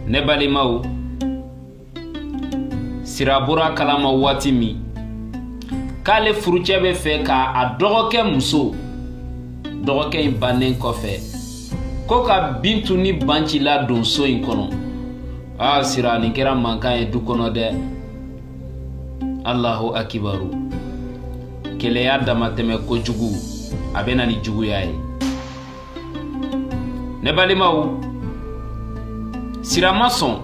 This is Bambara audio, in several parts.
ne balimaw sira bɔr'a kalama waati min k'ale furucɛ bɛ fɛ ka a dɔgɔkɛ muso dɔgɔkɛ in bannen kɔfɛ ko ka bintu ni banci ladon so in kɔnɔ aa sira nin kɛra mankan ye du kɔnɔ dɛ alahu akibaru keleya damatɛmɛ kojugu a bɛ na ni juguya ye ne balimaw sira ma sɔn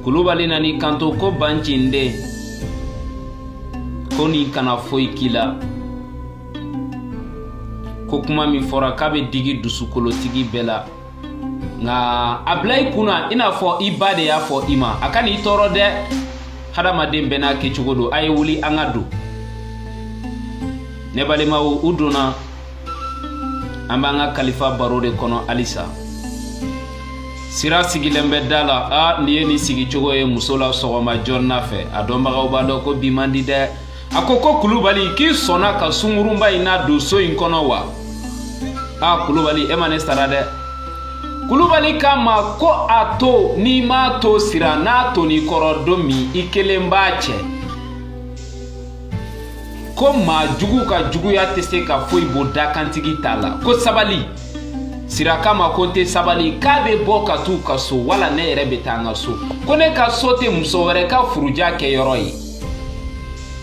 kulubali nan'i kanto ko banci n den ko nin kana foyi k'i la ko kuma min fɔra k'a bɛ digi dusukolotigi bɛɛ la nka a bila i kun na i n'a fɔ i ba de y'a fɔ i ma a kana i tɔɔrɔ dɛ hadamaden bɛɛ n'a kɛcogo don a ye wuli an ka don ne balimaw u donna an b'an ka kalifa baro de kɔnɔ halisa sira sigilen bɛ da la a n'i ye nin sigicogo ye muso la sɔgɔma joona fɛ a dɔnbagaw b'a dɔn ko bi man di dɛ a ko ko kulubali k'i sɔnna ka sungurunba in nadon so in kɔnɔ wa a kulubali e ma ne sara dɛ kulubali k'a ma ko a to n'i m'a to sira n'a tonn'i kɔrɔ don min i kelen b'a cɛ ko maa jugu ka juguya tɛ se ka foyi bɔ dakantigi ta la ko sabali sira k'a ma ko n tɛ sabali k'a bɛ bɔ ka t'u ka so wala ne yɛrɛ bɛ taa n ka so ko ne ka so tɛ muso wɛrɛ ka furuja kɛyɔrɔ ye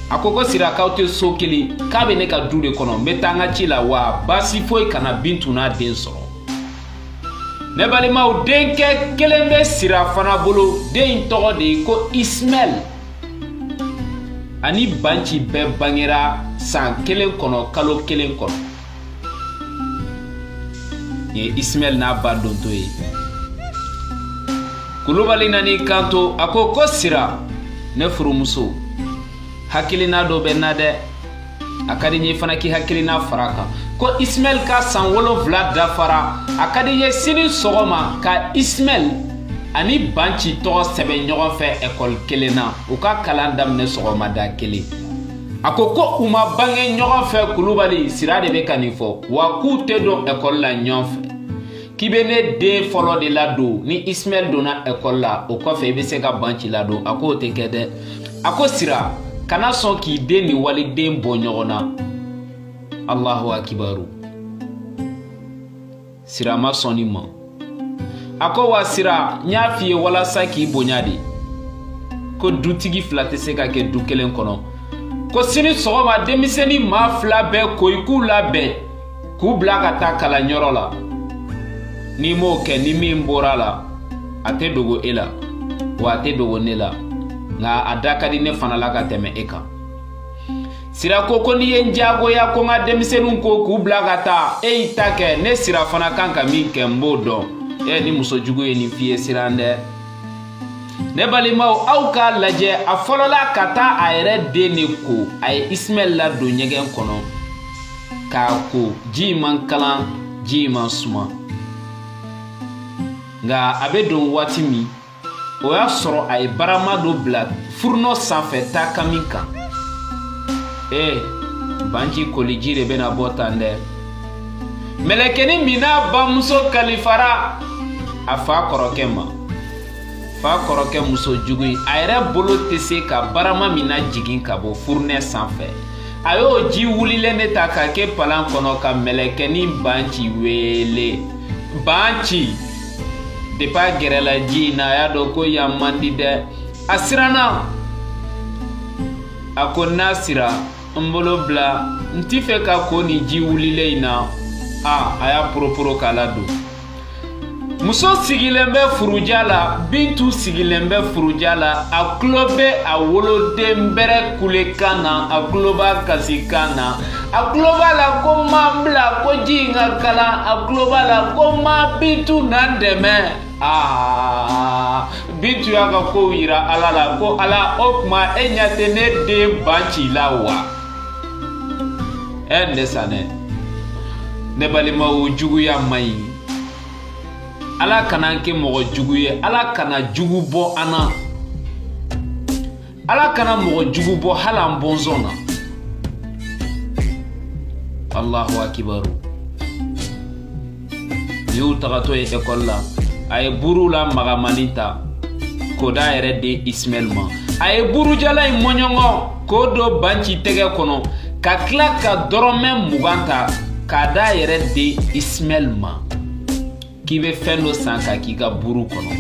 a ko ko sira k'aw tɛ so kelen k'a bɛ ne ka du de kɔnɔ n bɛ taa n ka ci la wa baasi foyi kana bintu n'a den sɔrɔ ne balimaw denkɛ kelen bɛ sira fana bolo den in tɔgɔ de ye ko ismaɛl a ni banci bɛɛ bangera san kelen kɔnɔ kalo kelen kɔnɔ nin ye ismaɛl n'a ba dontɔ ye kulubali nan'i kanto a ko ko sira ne furumuso hakilina dɔ bɛ n na dɛ a ka di n ye fana k'i hakilina far'a kan ko ismaɛl ka san wolonfila dafara a ka di n ye sini sɔgɔma ka ismaɛl ani banci tɔgɔ sɛbɛn ɲɔgɔn fɛ ekɔli kelen na u ka kalan daminɛ sɔgɔmada kelen a ko ko u ma bange ɲɔgɔn fɛ kulubali sira de bɛ ka nin fɔ wa k'u tɛ don ekɔli la ɲɔgɔn fɛ k'i bɛ ne den fɔlɔ de ladon ni ismaɛl donna ekɔli la o kɔfɛ i bɛ se ka banci ladon a k'o tɛ kɛ dɛ a ko sira kana sɔn k'i den ni waliden bɔ ɲɔgɔn na alahu akibaru sira ma sɔn nin ma a ko wa sira n y'a f'i ye walasa k'i bonya de ko dutigi fila tɛ se ka kɛ du kelen kɔnɔ ko sini sɔgɔma denmisɛnnin maa fila bɛɛ ko i k'u labɛn k'u bila ka taa kalanyɔrɔ la n'i m'o kɛ ni min bɔra la a tɛ dogo e la wa a tɛ dogo ne la nka a da ka di ne fana la ka tɛmɛ e kan sira ko ko n'i ye n jagoya ko n ka denmisɛninw ko k'u bila ka taa e y'i ta kɛ ne sira fana kan ka min kɛ n b'o dɔn e ni muso jugu ye nin f'i ye siran dɛ ne balimaw aw k'a lajɛ a fɔlɔla ka taa a yɛrɛ den de ko a ye ismaɛl ladon ɲɛgɛn kɔnɔ k'a ko ji man kalan ji man suma nka a bɛ don waati min o y'a sɔrɔ a ye barama dɔ bila furunɔ sanfɛ takami kan ee banci koliji de bɛna bɔ tan dɛ mɛlɛkɛnin min n'a bamuso kalifara a fa kɔrɔkɛ ma fa kɔrɔkɛ muso jugu in a yɛrɛ bolo tɛ se ka barama min najigin ka bɔ furunɛ sanfɛ a y'o ji wulilen de ta ka kɛ palan kɔnɔ ka mɛlɛkɛnin banci weele banci depi a gɛrɛla ji in na a y'a dɔn ko yan man di dɛ a siranna a ko na sira n bolo bila n t'i fɛ ka ko nin ji wulilen in na a a y'a poroporo k'a ladon muso sigilen bɛ furuja la bintu sigilen bɛ furuja la a tulo bɛ a woloden bɛrɛ kulekan na a tulo b'a kasikan na a tulo b'a la ko n ma n bila ko ji in ka kalan a tulo b'a la ko n ma bintu na n dɛmɛ aa bintu y'a ka kow yira ala la ko ala o tuma e ɲɛ tɛ ne den banci la wa ɛ ne sanɛ ne balimaw juguya man ɲi ala kana n kɛ mɔgɔ jugu ye ala kana jugu bɔ an na ala kana mɔgɔ jugu bɔ hali an bɔnsɔn na allahu akibaru y'u tagatɔ ye ekɔli la a ye buru la magamannin ta k'o d'a yɛrɛ den ismaɛl ma a ye burujalan in mɔɲɔngɔ k'o don banci tɛgɛ kɔnɔ ka tila ka dɔrɔmɛ mugan ta k'a d'a yɛrɛ den ismaɛl ma k'i bɛ fɛn dɔ san ka k'i ka buru kɔnɔ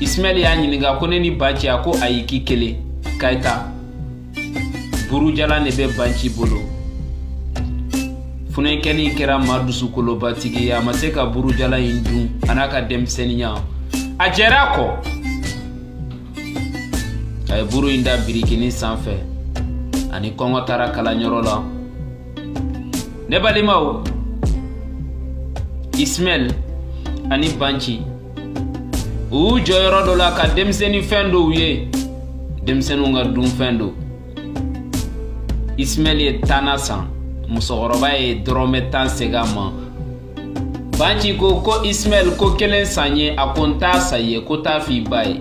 ismaɛl y'a ɲininka ko ne ni banci a ko ayi k'i kelen ka i ta burujalan de bɛ banci bolo funɛnkɛnin kɛra maa dusukolobatigi ye a ma se ka burujalan in dun a n'a ka denmisɛnninya a jɛra a kɔ a ye buru in da birikinin sanfɛ ani kɔngɔ taara kalanyɔrɔ la ne balimaw ismaɛl ani banci u y'u jɔ yɔrɔ dɔ la ka denmisɛnnin fɛn dɔw ye denmisɛnninw ka dunfɛn don ismaɛl ye tan na san musokɔrɔba ye dɔrɔmɛ tan segin a ma banci ko ko ismaɛl ko kelen san n ye a ko n t'a san i ye ko t'a f'i ba ye